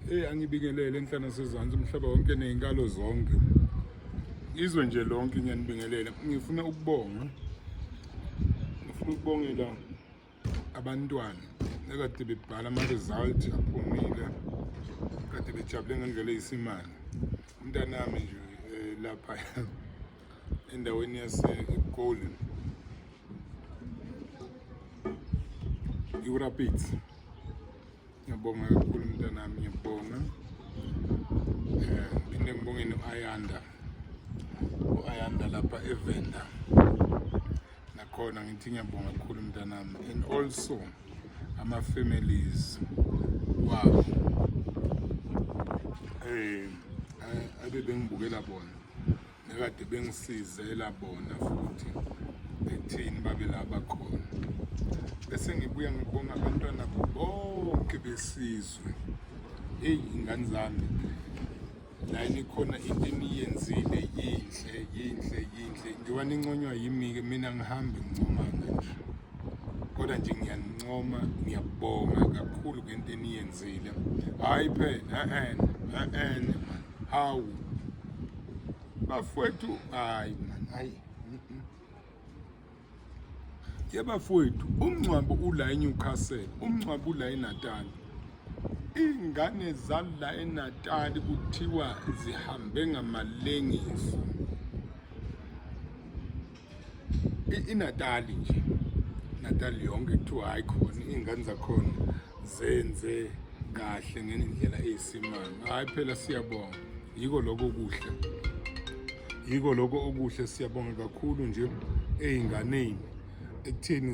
Hey angibingelele enhlana sezansi umhlaba wonke nezinkalo zonke. Izwe nje lonke ngiyanibingelela. Ngifuna ukubonga. Ngifuna ukubongela abantwana ekade bebhala ama result aphumile. Kade bejabule ngendlela eyisimanga. Umntanami nje eh, lapha endaweni yase Golden. Iwurapids. Ngiyabonga kakhulu mntanami, ngiyabonga eh, phinde ngibongeni u-ayanda u-ayanda lapha evenda nakhona ngithi ngiyabonga kakhulu mntanami and also ama-families wabo um eh, abe bengibukela bona Nakade bengisizela bona futhi bethini babe laba khona. Bese ngibuya ngibonga abantwana bonke besizwe. Hey ingane zami la nikhona into eniyenzile yinhle yinhle yinhle njengoba ninconywa yimi-ke mina ngihambe ngincomanga nje kodwa nje ngiyanincoma ngiyabonga kakhulu ngento eniyenzile hhayi phela e-ene e-ene Hawu bafowethu, hayi man, hayi ye bafowethu, umngcwabo ula eNewcastle, umngcwabo ula eNatal. Iy'ngane zala eNatal kuthiwa zihambe ngamalengiso. inatali nje natali yonke kuthiwa hayi khona iy'ngane zakhona zenze kahle ngendlela eyisimanga hhayi phela siyabonga yiko lokho okuhle yiko lokho okuhle siyabonga kakhulu nje ey'nganeni ekutheni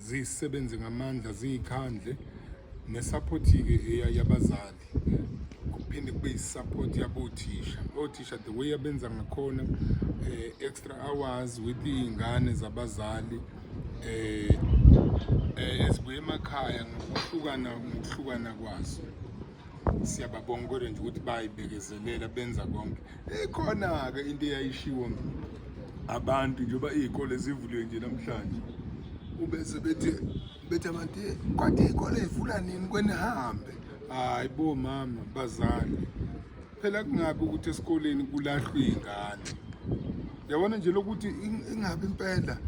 zisebenze ngamandla ziyikhandle nesaphothi-ke eyabazali kuphinde kube yisupport yabothisha othisha the way abenza ngakhona eh, extra hours with iy'ngane zabazali eh, eh, ezibuye emakhaya ngokuhlukana ngokuhlukana kwazo siyababonga kodwa nje ukuthi bayibekezelela benza konke ikhona-ke into eyayishiwo abantu njengoba iy'kole zivuliwe nje namhlanje ube sebethi bethe abantu kwathi ikole ivula nini kwenihambe hayi bo mama bazali phela kungabi ukuthi esikoleni kulahlwe ingane yabona nje lokuthi ingabi impela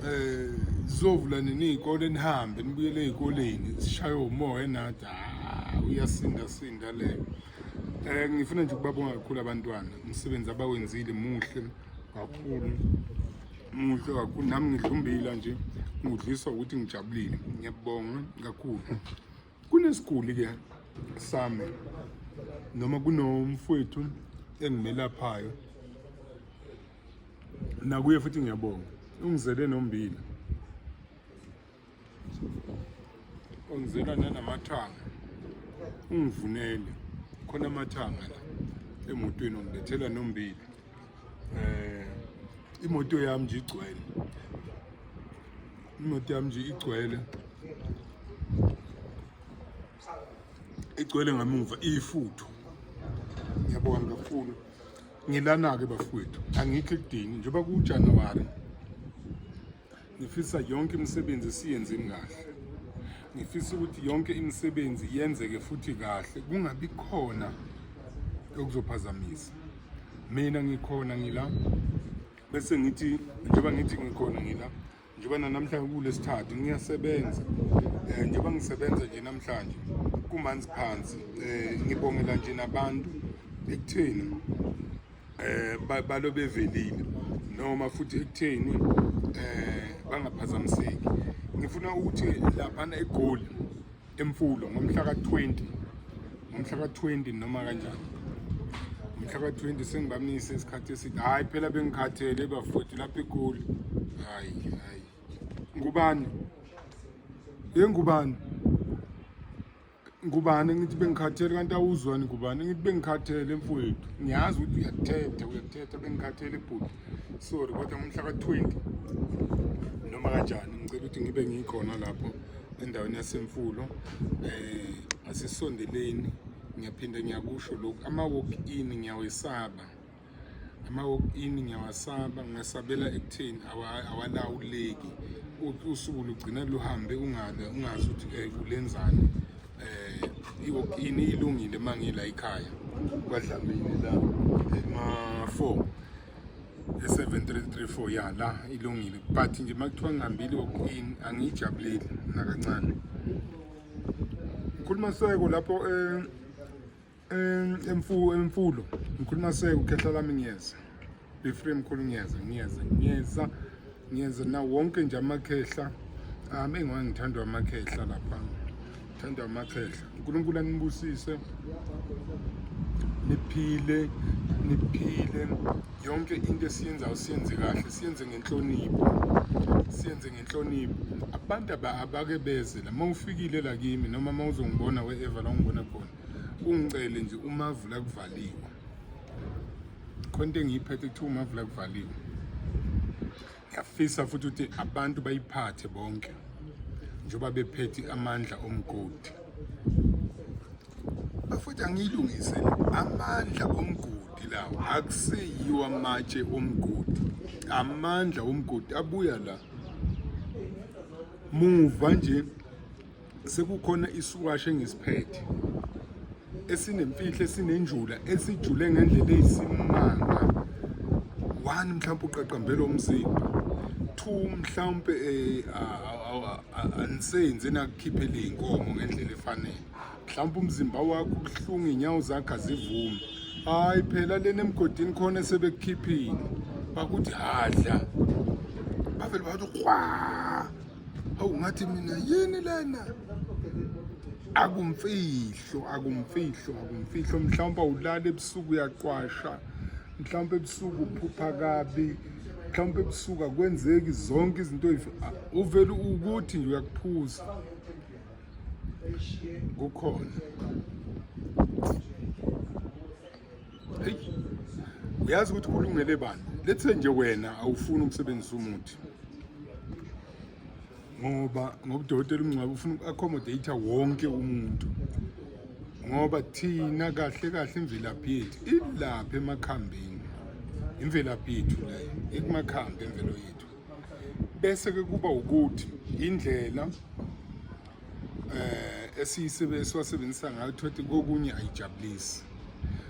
eh zizovula nini izikole nihambe nibuyele ezikoleni sishaye umoya enathi ah, uyasinda sinda leyo eh ngifuna nje ukubabonga kakhulu abantwana umsebenzi abawenzile muhle kakhulu muhle kakhulu nami ngidla umbila nje ngudlisa ukuthi ngijabulile ngiyabonga kakhulu kunesiguli ke sami noma kunomfowethu engimelaphayo nakuye futhi ngiyabonga ungizele nombila ongizela nanamathanga ungivunele khona amathanga la emotweni ongilethela nombili eh imoto yami nje igcwele imoto yami nje igcwele igcwele ngamuva ifuthu ngiyabonga kakhulu ngilana-ke bafowethu angikho ekudingi njengoba kuwujanuwari ngifisa yonke imisebenzi siyenzeni kahle ngifisa ukuthi yonke imisebenzi yenzeke futhi kahle kungabi khona okuzophazamisa mina ngikhona ngila bese ngithi njengoba ngithi ngikhona ngila njengoba nanamhlanje kulesithathu ngiyasebenza um njengoba ngisebenza nje namhlanje kumanzi phansi um ngibongela nje nabantu ekutheni eh balo bevelile noma futhi ekutheni eh bangaphazamiseki ngifuna ukuthi laphana egoli emfulo ngomhla ka-20 ngomhla ka-20 noma kanjani ngomhla ka-20 sengibamise isikhathi eside hhayi phela bengikhathele bafowethu lapha egoli hhayi hhayi ngubani yengubani ngubani ngithi bengikhathele kanti awuzwani ngubani ngithi bengikhathele mfowethu ngiyazi ukuthi uyakuthetha uyakuthetha bengikhathele bhuti sorry kodwa ngomhla ka-twenty noma kanjani ngicela ukuthi ngibe ngikhona lapho endaweni yasemfulo eh asisondeleni ngiyaphinde ngiyakusho lokhu ama-walk in ngiyawesaba ama-walk in ngiyawasaba ngingasabela ekutheni awalawuleki usuku lugcina luhambe ungabe ungazi ukuthi um eh, ulenzani um i-walk in ilungile uma ngila ikhaya kwadlamini la ema-four e-7334 ya la ilungile but nje uma kuthiwa ngihambile i-walk in angiyijabuleli nakancane ngikhuluma seko lapho um emfulo emfulo ngikhuluma seke ukhehla lami ngiyeza be free mkhulu ngiyeza ngiyeza ngiyeza ngiyeza na wonke nje amakhehla um engiwa ngithandwa amakhehla lapha ngithandwa amakhehla unkulunkulu anibusise niphile niphile yonke into esiyenzayo siyenze kahle siyenze ngenhlonipho siyenze ngenhlonipho abantu abake beze la uma ufikile la kimi noma uma uzongibona we-eva la ungibona khona ungicele nje umavula kuvaliwe khona into engiyiphethe kuthiwa umavula kuvaliwe ngiyafisa futhi ukuthi abantu bayiphathe bonke njengoba bephethe amandla omgodi bafuthi angiyilungise amandla omgodi lawo akuseyiwa amatshe omgodi amandla omgodi abuya la muva nje sekukhona isiwashi engisiphethe esinemfihlo esinenjula esijule ngendlela eyisimanga one mhlawumbe uqaqambela umzimba two mhlawumbe eh, anisenzi nakukhiphela iy'nkomo ngendlela efanele mhlawumbe umzimba wakho ubuhlungu iy'nyawo zakho azivume hhayi phela lena emgodini khona sebekukhiphile bakuthi hadla bavele bathi kwa Hawu ngathi mina yini lena? Akumfihlo, akumfihlo, akumfihlo mhlawumbe ulala ebusuku uyaqwasha. Mhlawumbe ebusuku uphupha kabi. Mhlawumbe ebusuku akwenzeki zonke izinto ah, uvela ukuthi nje uyakuphuza. Kukhona. uyazi ukuthi kulungele bani let's say nje wena awufuni ukusebenzisa umuthi ngoba ngoba udokotela umngcwabo ufuna uku-accommodate wonke umuntu ngoba thina kahle kahle imvelaphi yethu ilapha emakhambini imvelaphi yethu leyo ekumakhambi emvelo yethu bese ke kuba ukuthi indlela eh esiyisebenzisa ngayo thothi kokunye ayijabulisi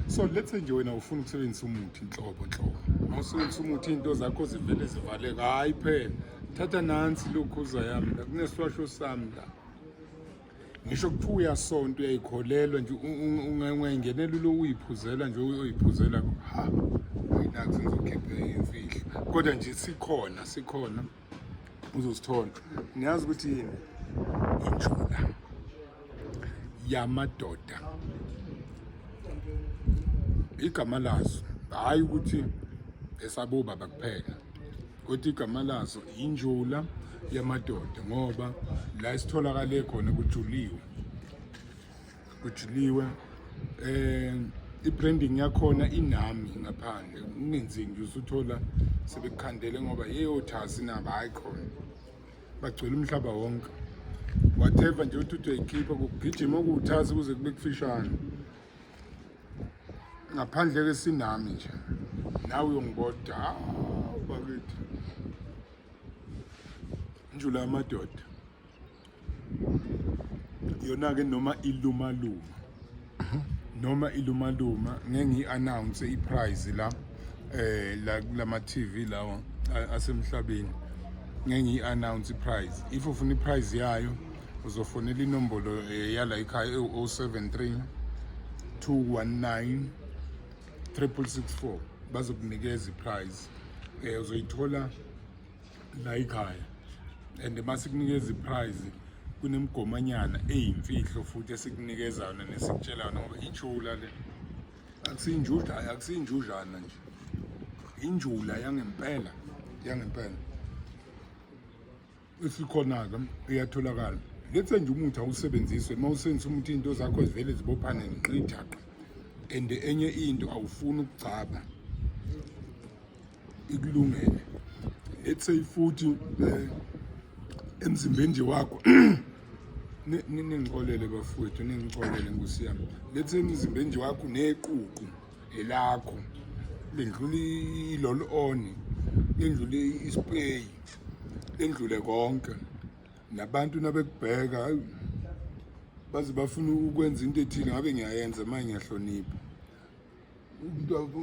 so let's say nje wena ufuna ukusebenzisa umuthi inhlobo nhlobo awusebenzisa umuthi into zakho zivele zivaleka hayi phela thatha nansi lokhuza yami la kunesiwasho sami la ngisho kuthiwa uyasonta uyayikholelwa nje ungayingenela ulo uyiphuzela nje uyoyiphuzela ha ayinazi ngizokhiphe imfihlo kodwa nje sikhona sikhona uzosithola niyazi ukuthi yini injula yamadoda igama lazo hhayi ukuthi esabobaba kuphela kodwa igama lazo injula yamadoda ngoba la isitholakale khona kujuliwe kujuliwe eh i-branding yakhona inami ngaphandle kungenzeki nje usuthola sebekukhandele ngoba yeyothasi nabo hayi khona bagcwele umhlaba wonke whatever nje uthi uthi uyayikhipha kugijima okuwuthazi kuze kube kufishane ngaphandle ke sinami nje nawe uyongiboda bakithi njula amadoda yona ke noma iluma luma noma iluma luma ngeke ngi announce i prize la eh la kulama TV lawa asemhlabeni ngeke ngi announce i prize if ufuna i prize yayo uzofonela inombolo eh, yala ikhaya ewu-073 219 3664 bazokunikeza iprize um eh, uzoyithola la ikhaya and uma sikunikeza iprize kunemigomanyana eyimfihlo futhi esikunikeza-na nesikutshela-na ngoba ithula le akusinjudlana akusinjujana nje injula yangempela yangempela esikhona-ke iyatholakala lethe nje umuthi awusebenzise uma usebenzisa umuthi into zakho zivele zibophane nqithaqa and enye into awufuni ukugcaba ikulungele let's say futhi eh, emzimbeni nje wakho ningixolele bafowethu ningixolele nkosi yami let's say emzimbeni nje wakho neququ elakho lendlula iloloni lendlula ispeyi endlule konke nabantu nabekubheka hayi baze bafuna ukwenza into ethile ngabe ngiyayenza manje ngiyahlonipha umuntu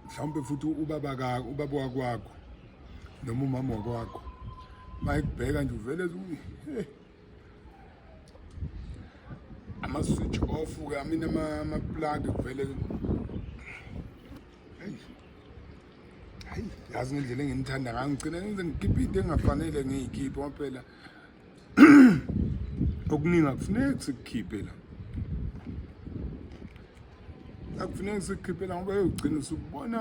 mhlawumbe futhi ubaba ka ubaba wakwakho noma umama wakwakho mayikubheka nje uvele eh. ama switch off ke amina ama plug kuvele hayi yazi ngendlela enginithanda ngayo ngigcina ngize ngikhiphe into engafanele ngiyikhiphe ngoba phela okuningi akufuneki sikukhiphe la akufuneki sikukhiphe la ngoba yogcina usubona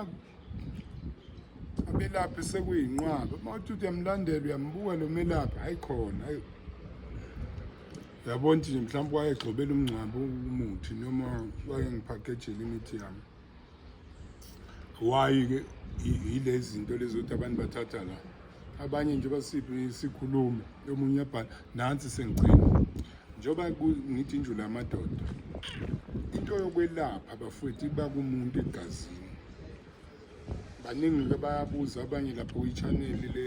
abelaphi sekuyinqwaba uma uthi uyamlandela uyambuka lo melaphi hayi khona hayi yabona nje mhlawumbe wayegxobela umngcwabo umuthi noma wayengiphakhejele imithi yami why ke yilezi zinto lezi ukuthi abantu bathatha la abanye nje basiphi sikhulume omunye uyabhala nansi sengigcina njengoba ngithi njula amadoda into yokwelapha abafowethu iba kumuntu egazini baningi-ke bayabuza abanye lapho kwi-channel le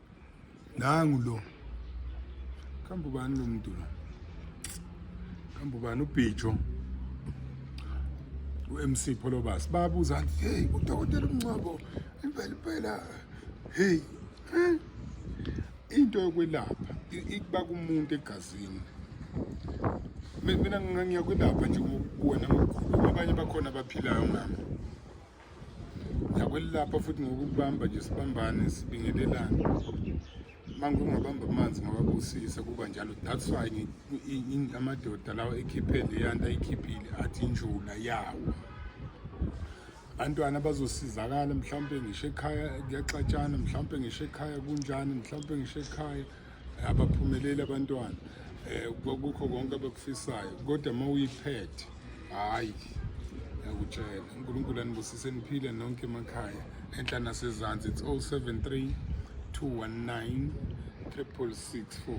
nangu lo kambe ubani lo muntu lo kambe ubani ubhijo u-mc pholobasi babuza nti heyi udokotela umncwabo impela impela heyi eh? into yokwelapha ikuba kumuntu egazini mina ngiyakwelapha nje kuwena ngokukhulu abanye bakhona abaphilayo ngami nakwelilapha futhi ngokubamba nje sibambane sibingelelane manje ungabamba amanzi ngababusisa kuba njalo that's why amadoda lawa ekhiphe leyanto ayikhiphile athi injula yawo abantwana bazosizakala mhlawumpe ngisho ekhaya kuyaxatshana mhlawumpe ngisho ekhaya kunjani mhlawumpe ngisho ekhaya abaphumeleli abantwana um kukho konke abakufisayo kodwa uma uyiphethe hhayi yakutshela unkulunkulu anibusise niphile nonke emakhaya enhla nasezansi it's 073 219 364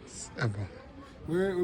Siyabonga. We, we